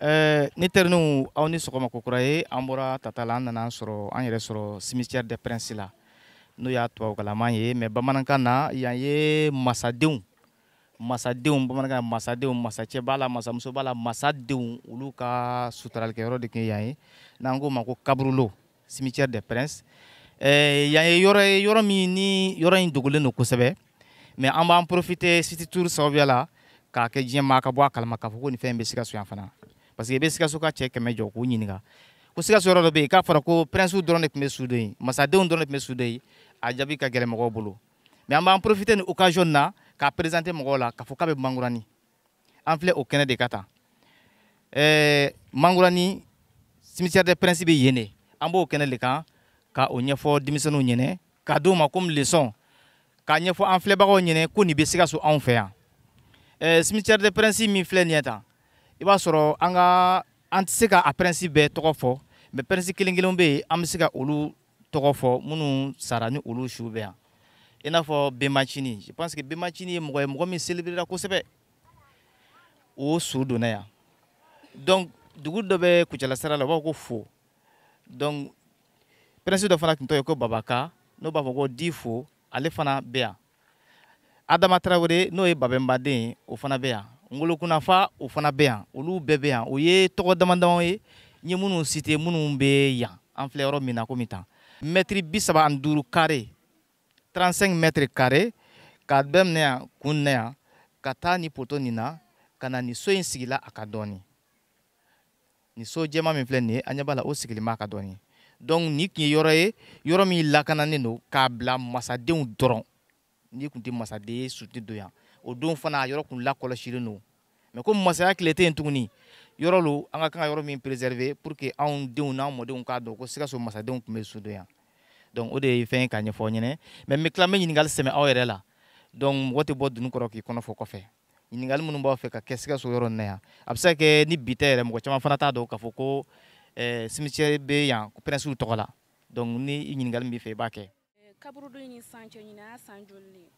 Eh, n teriniw aw ni sɔgɔma kokura ye an bɔra tata la an nana sɔrɔ an yɛrɛ sɔrɔ cimetière des princes la n'o y'a tubabukanlama ye mais bamanankan na yan ye masadenw masadenw bamanankan masadenw masacɛ b'a la masamuso b'a la masadenw olu ka sutaralikɛyɔrɔ de tun ye yan ye n'an k'o ma ko kaburulo cimetière des princes eh, yan ye yɔrɔ ye yɔrɔ min ni yɔrɔ in dogolen don kosɛbɛ mais an b'an profiter city tour sababuya la k'a kɛ diɲɛ maa ka bɔ a kalama k'a fɔ ko nin fɛn in bɛ sikaso yan fana parce que i bɛ sikaso ka cɛ kɛmɛ jɔ k'u ɲininka ko sikaso yɔrɔ dɔ bɛ yen k'a fɔra ko prinsiw dɔrɔn de tun bɛ su don yen masadenw dɔrɔn de tun bɛ su don yen a jaabi ka gɛlɛn mɔgɔw bolo mais an b'an profiter nin occasion na k'a présenter mɔgɔw la k'a fɔ k'a bɛ mankurani an filɛ o kɛnɛ de kan tan ɛɛ mankurani cimetière des princes bɛ yen de an b'o kɛnɛ de kan ka o ɲɛfɔ denmisɛnninw ɲɛnɛ k'a d'u ma comme leçon k'a ɲɛfɔ an filɛbagaw ɲɛnɛ ko nin bɛ sikaso anw fɛ yan ɛɛ cimetière des princes min filɛ nin ye tan i b'a sɔrɔ an ka an tɛ se ka a prince bɛɛ tɔgɔ fɔ mais prince kelen kelen bɛ yen an bɛ se ka olu tɔgɔ fɔ minnu sara ni olu su bɛ yan i n'a fɔ benbacini je pense que benbacini ye mɔgɔ ye mɔgɔ min célébréra kosɛbɛ o su donna yan donc dugu dɔ bɛ kucala sira la u b'a fɔ ko fo donc prince dɔ fana tun tɔgɔ ye ko babaka n'o b'a fɔ ko di fo ale fana bɛ yan adama tarawele n'o ye babɛnba den ye o fana bɛ yan ngolo kunnafa o fana bɛ yan olu bɛɛ bɛ yan o ye tɔgɔ damadama ye n ye minnu citer minnu bɛ yan an filɛ yɔrɔ min na komi tan mɛtiri bi saba ani duuru kare 35 mètres carrés k'a daminɛ yan kun na yan ka taa ni poto nin na ka na nin so in sigila a kan dɔɔni nin so jɛman min filɛ nin ye an ɲɛ b'a la o sigilen b'a kan dɔɔni donc nin tun ye yɔrɔ ye yɔrɔ min lakananen don k'a bila masadenw dɔrɔn n'i tun tɛ masaden ye su tɛ don yan o don fana a yɔrɔ tun lakɔlɔsilen don mais comme masaya tile tɛ yen tuguni yɔrɔ lo an ka kan ka yɔrɔ min préserver pour que anw denw n'an mɔdenw k'a dɔn ko sikaso masadenw tun bɛ su don yan donc o de ye fɛn ye k'a ɲɛfɔ aw ɲɛna mais n bɛ tila n bɛ ɲininkali sɛmɛ aw yɛrɛ la donc mɔgɔ tɛ bɔ dunun kɔrɔ k'i kɔnɔ fɔ kɔfɛ ɲininkali minnu b'aw fɛ ka kɛ sikaso yɔrɔ nin na yan a bɛ se ka kɛ ni bi tɛ yɛrɛ mɔgɔ caman fana t'a dɔn k'a fɔ ko eh, cimetière bɛ yan ko pɛrɛnsiw tɔgɔ la donc ni ɲininkali min b'i fɛ i b'a kɛ kaburudo in ni san cɛ ɲinan a san joli de ye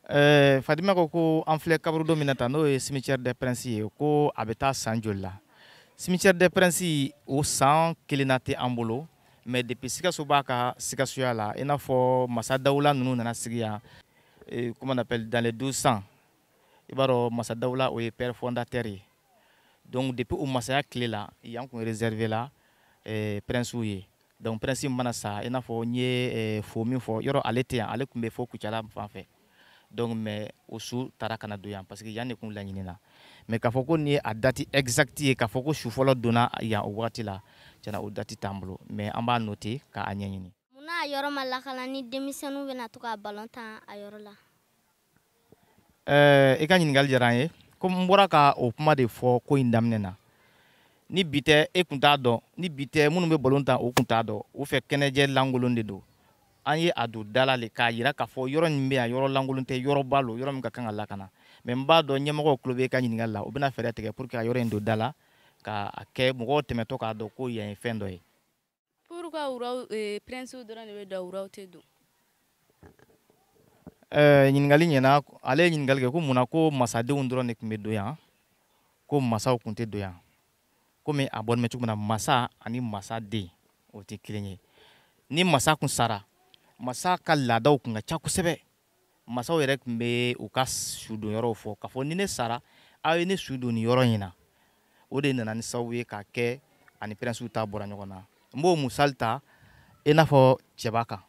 Eh, Fatima ko ko an filɛ kaburudo min na tan n'o ye cimetière des princes ye ko a bɛ taa san joli la cimetière des princes o san kelenna tɛ an bolo mais depuis sikaso b'a ka sikasoya la i n'a fɔ masa dawula ninnu nana sigi yan Et comment on appelle, dans les 1200, i b'a sɔrɔ Massa Daoula o ye père fondateur ye. Donc depuis o masaya tile la, yan kun réservé la, eh, princew ye Donc prince mana sa, i n'a fɔ n ye eh, Fo min fɔ. Yɔrɔ ale tɛ yan, ale kun bɛ fo Kucala fan fɛ. Donc mais o su taara ka na don yan parce que yan de kun laɲinina. Mais k'a fɔ ko nin ye a dati exacte ye k'a fɔ ko su fɔlɔ donna yan o wagati la tiɲɛna o dati t'an bolo mais an b'a note k'a ɲɛɲini mun na a yɔrɔ ma lakana ni denmisɛnninw bɛna to ka balon tan a yɔrɔ la ɛɛ i ka ɲininkali diyara an ye komi n bɔra ka o kuma de fɔ ko in daminɛ na ni bi tɛ e kun t'a dɔn ni bi tɛ minnu bɛ balon tan o kun t'a dɔn u fɛ kɛnɛjɛ lankolon de don an ye a don da la le k'a yira k'a fɔ yɔrɔ nin bɛ yan yɔrɔ lankolon tɛ yɔrɔba lo yɔrɔ min ka kan ka lakana mais n b'a dɔn ɲɛmɔgɔw tulo bɛ e ka ɲininkali la u bɛna fɛɛrɛ tigɛ pour que ka yɔrɔ in don da la k'a kɛ mɔgɔw tɛmɛtɔ k'a dɔn ko yan ye fɛn dɔ ye Pourquoi wuraw euh, prince dɔrɔn de bɛ don wuraw tɛ don? Euh, ɲininkali ɲɛna ale ye ɲininkali kɛ ko mun na ko masadenw dɔrɔn de tun bɛ don yan ko masaw tun tɛ don yan komi a bɔlen bɛ cogo min na masa ani masaden o tɛ kelen ye ni masa tun sara masa ka laadaw tun ka ca kosɛbɛ masaw yɛrɛ tun bɛ u ka su don yɔrɔw fɔ k'a fɔ ni ne sara aw ye ne su don nin yɔrɔ in na o de nana ni sababu ye k'a kɛ ani pɛrɛnsiw ta bɔra ɲɔgɔn na n b'o misali ta i n'a fɔ cɛba kan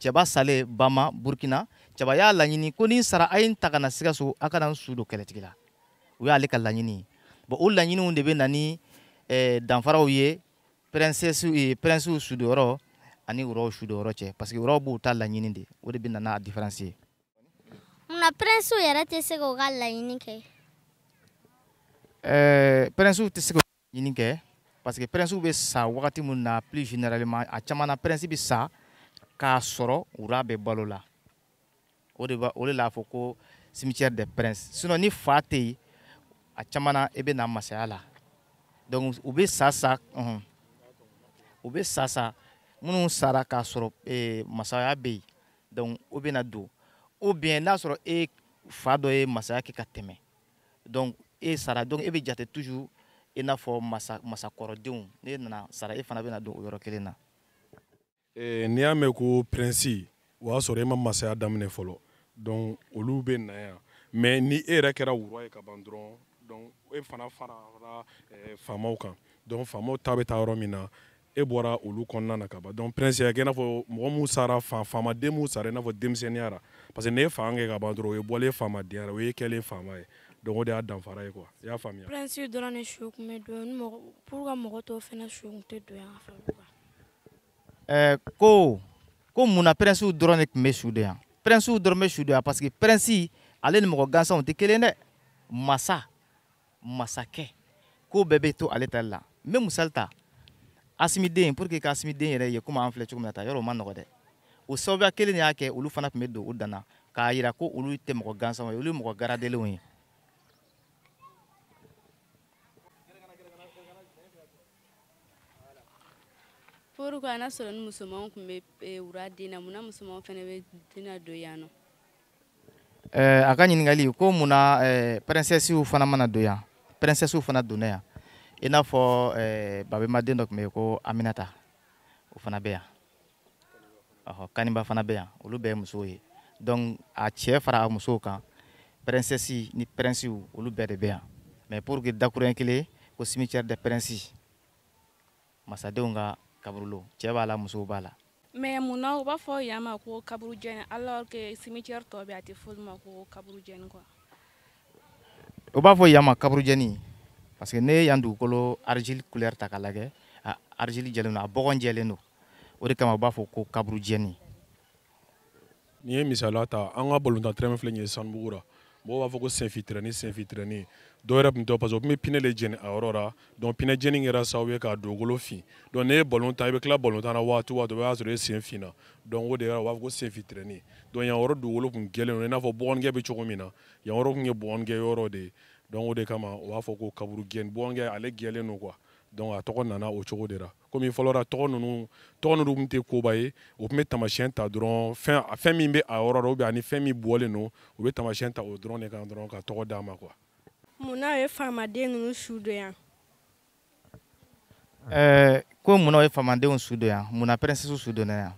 cɛba salen bama burkina cɛba y'a laɲini ko ni n sara a ye n ta ka na sikaso a ka na n su don kɛlɛtigila o y'ale ka laɲini ye bon o laɲiniw de bɛ na ni eh, danfaraw ye pɛrɛnsiw sudonyɔrɔ ani wuraw sudonyɔrɔ cɛ parce que wuraw b'u ta laɲini de o de bɛ na n'a diferansi ye munna pɛrɛnsiw yɛrɛ tɛ se k'u ka laɲini kɛ ɛɛ pɛrɛnsiw tɛ se k'u ka laɲini kɛ parce que pɛrɛnsiw bɛ sa wagati min na plus généralement a caman na pɛrɛnsi bɛ sa k'a sɔrɔ wura bɛ balo la o de o de l'a fɔ ko cimetière des princes sinon ni fa tɛ yen a caman na i bɛ na masaya la donc u bɛ sa sa ɔhɔn u bɛ sa sa minnu sara k'a sɔrɔ ee masaya bɛ yen donc o bɛ na don ou bien n'a sɔrɔ e fa dɔ ye masaya kɛ ka tɛmɛ donc e sara donc e bɛ jate toujours i n'a fɔ masa masakɔrɔdenw n'e nana sara e fana bɛ na don o yɔrɔ kelen na. eh, n'i y'a mɛn ko prinsi o y'a sɔrɔ e ma masaya daminɛ fɔlɔ donc olu bɛ na yan mais ni e yɛrɛ kɛra wura ye ka ban dɔrɔn donc e fana farala eh, faamaw kan donc faamaw ta bɛ taa yɔrɔ min na e bɔra olu kɔnɔna na ka ban donc prince y'a kɛ i n'a fɔ mɔgɔ minnu sara fa faamaden minnu sara i n'a fɔ denmisɛnninya la parce que n'e ye fanga kɛ ka ban dɔrɔn o y'e bɔlen faamadenya ra o y'e kɛlen faama ye donc o de y'a danfara ye quoi i y'a faamuya prince dɔrɔn de su tun bɛ don pourquoi mɔgɔ tɔw fana su tun tɛ don yan fɛ ɛɛ ko ko mun na pɛrɛnsiw dɔrɔn de tun bɛ su don yan pɛrɛnsiw dɔrɔn bɛ su don yan parce que pɛrɛnsi ale ni mɔgɔ gansanw tɛ kelen dɛ masa masakɛ ko bɛɛ bɛ to ale tali la n bɛ misali ta asimi den pour que ka asimi den yɛrɛ ye komi an filɛ cogo min na ta yɔrɔ o ma nɔgɔ dɛ o sababuya kelen de y'a kɛ olu fana tun bɛ don u danna k'a jira ko olu tɛ mɔgɔ gansanw ye olu ye mɔgɔ garadelenw ye pourquoi n'a sɔrɔ ni musomanw tun bɛ eh, wura den na mun na musomanw fana bɛ den na don yan nɔ. Eh, a ka ɲininkali ko mun na eh, pɛrɛnsɛsiw fana ma na don yan pɛrɛnsɛsiw fana donna yan i n'a fɔ babemba den dɔ tun bɛ yen ko aminata o fana bɛ yan. ɔhɔ kaniba fana bɛ yan olu bɛɛ ye musow ye donc a cɛ fara a musow kan pɛrɛnsɛsi ni pɛrɛnsiw olu bɛɛ de bɛ yan mais pour que dakuruɲɛ kelen ko cimetière des princes masadenw ka kaburulon cɛ b'a la musow b'a la mais mun na u b'a fɔ yan ma ko kaburujɛni alors que cimetière tɔ bɛɛ a tɛ f'olu ma ko kaburujɛni quoi o b'a fɔ yan ma kaburujɛni parce que n'e ye yan dugukolo argile couleur ta k'a lajɛ a argile jɛlen don a bɔgɔ jɛlen don o de kama u b'a fɔ ko kaburujɛni n'i ye misaliya ta an ka balontan tɛrɛn filɛ nin ye sanubugu ra mɔgɔw b'a fɔ ko senfin tɛrɛni senfin tɛrɛni dɔw yɛrɛ tun tɛ parce que o tun bɛ pinɛ de jeni a yɔrɔ ra donc pinɛ jeni kɛra sababu ye k'a dugukolo fin donc n'e ye balon tan i bɛ tila balon tan na waati waati o b'a sɔrɔ e sen finna donc o de yɛrɛ u b'a fɔ ko senfin tɛrɛni donc yan yɔrɔ dugukolo tun jɛlen don i n'a fɔ bɔgɔnigɛ bɛ cogo min na yan yɔrɔ tun ye bɔgɔnigɛ yɔrɔ de ye donc o de kama u b'a fɔ ko kaburujɛni bɔgɔnigɛ ale jɛlen don quoi donc a tɔgɔ nana o cogo de la komi fɔlɔ ra tɔgɔ ninnu tɔgɔ ninnu tun tɛ koba ye o tun bɛ tamasiyɛn ta dɔrɔn fɛn fɛn min bɛ a yɔrɔ rɔ ou bien ani fɛn min bɔlen don u bɛ tamasiyɛn ta o dɔrɔn de kan dɔrɔn ka tɔgɔ d'a ma quoi mun na u ye faamaden ninnu su don yan ɛɛ ko mun na o ye faamadenw su don yan mun na pɛrɛnsɛsiw su donna yan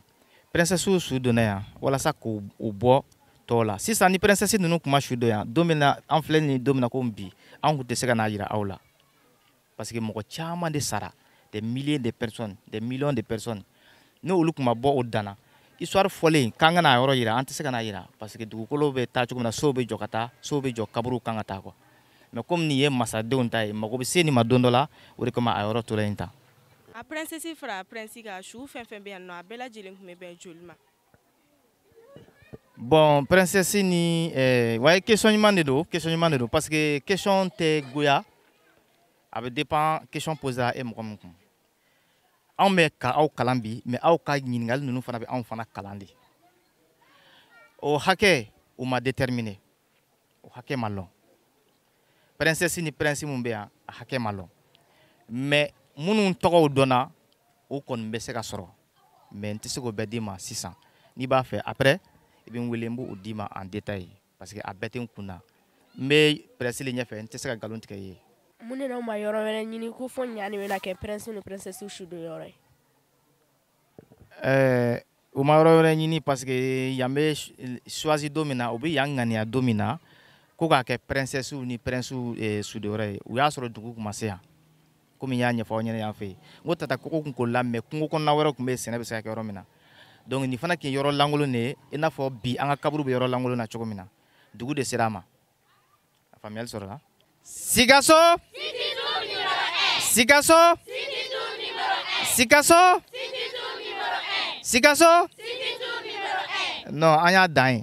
pɛrɛnsɛsiw su donna yan walasa k'u u bɔ tɔw la sisan ni pɛrɛnsɛsi ninnu tun ma su don yan don min na an filɛ nin don min na komi bi an tun tɛ se ka n'a jira aw la parce que mɔgɔ caman de sara des milliers de personnes des millions de personnes n'olu tun ma bɔ o danna histoire fɔlen k'an ka n'a yɔrɔ jira an tɛ se ka n'a jira parce que dugukolo bɛ taa cogo min na sow bɛ jɔ ka taa sow bɛ jɔ kaburuw kan ka taa quoi mais komi nin ye masadenw ta ye mago bɛ se nin ma don dɔ la o de kama a yɔrɔ tora yen tan a princesse fara a prince kan su fɛn fɛn bɛ yan nɔ a bɛɛ lajɛlen tun bɛ bɛn joli ma bon princesse ni eh, ouais question ɲuman de don question ɲuman de don parce que question tɛ goya a bɛ dépend question posera e mɔgɔ min kun anw bɛ ka aw kalan bi mais aw ka ɲininkali ninnu fana bɛ anw fana kalan de o hakɛ u ma déterminer o hakɛ ma lɔn princesses ni princes minnu bɛ yan a hakɛ ma lɔn mais minnu tɔgɔw dɔnna o kɔni bɛ se ka sɔrɔ mais n tɛ se k'o bɛɛ d'i ma sisan n'i b'a fɛ après i bɛ n wele n b'o d'i ma en détail parce que a bɛɛ tɛ n kun na n bɛ presse le ɲɛfɛ n tɛ se ka nkalon tigɛ i ye mun de n'aw ma yɔrɔ wɛrɛ ɲini ko fo yan nin bɛna kɛ princes ni princesses sudonyɔrɔ ye eh, u ma yɔrɔ wɛrɛ ɲini parce que yan bɛ choisi don min na u bɛ yan ŋaniya don min na ko k'a kɛ princesses ni princes eh, sudonyɔrɔ ye u y'a sɔrɔ dugu tun ma se yan komi n y'a ɲɛfɔ aw ɲɛna yan fɛ yen n ko tata koko tun koolila mais kungo kɔnɔna wɛrɛ tun bɛ yen sɛnɛ bɛ se ka kɛ yɔrɔ min na donc nin fana tun ye yɔrɔ lankolon de ye i n'a fɔ bi an ka kaburu bɛ yɔrɔ lankolon na cogo min na dugu de sera a ma a faamuyali sɔrɔla sikaso sikaso sikaso sikaso non an y'a dan ye